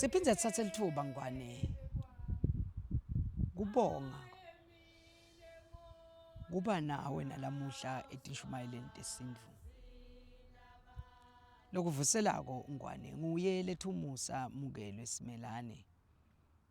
siphinde sithathe lithuba ngwane kubonga kuba nawe nalamuhla etishumayeleni tesindvu lokuvuselako ngwane nguye letha umusa mukelwe simelane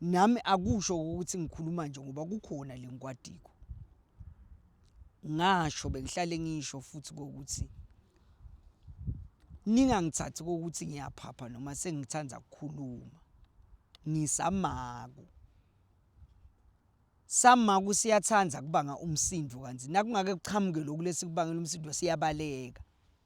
Nami akusho ukuthi ngikhuluma nje ngoba kukhona le nkwadiko. Ngasho bengihlale ngisho futhi kokuthi ningangithathi kokuthi ngiyaphapha noma sengithanda ukukhuluma, ngisamaku. Samaku siyathanda kubanga umsindo kanti nakungake kuqhamuke loku lesi kubangela umsindo siyabaleka.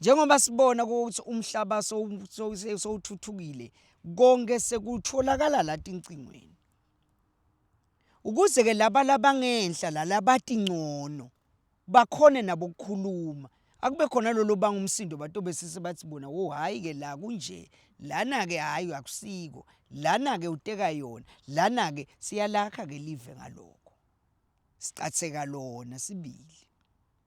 Njengoba sibona ukuthi umhlaba sowuthuthukile konke sekutholakala la tincingweni. Ukuze-ke laba labangenhla la labati ngcono bakhone nabo ukukhuluma, akube khona lolu obanga umsindo batobe sese bathi bona wo hhayi-ke la kunje, lana-ke hhayi akusiko, lana-ke uteka yona, lana-ke siyalakha-ke live ngalokho, sicatheka lona sibili.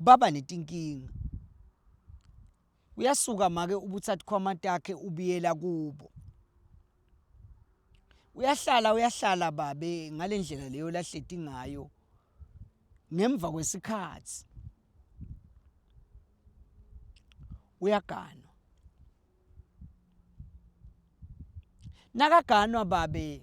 baba netinkinga uyasuka make ubuthatha khwama takhe ubiyela kubo uyahlala uyahlala babe ngale ndlela leyo lahleti ngayo ngemva kwesikhathi uyaganwa nakaganwa babe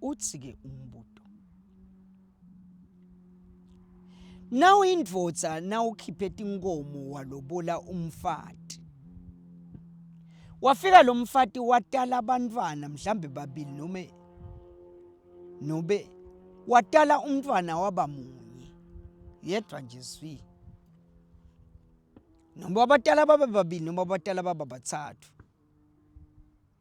uthi ke umbuto nawu indvodza nawukhiphe tinkomo walobola umfati wafika lomfati watala abantwana mhlambe babili noma nobe watala umntwana waba munye yedwa nje zwi noma abatala babe babili noma abatala baba bathathu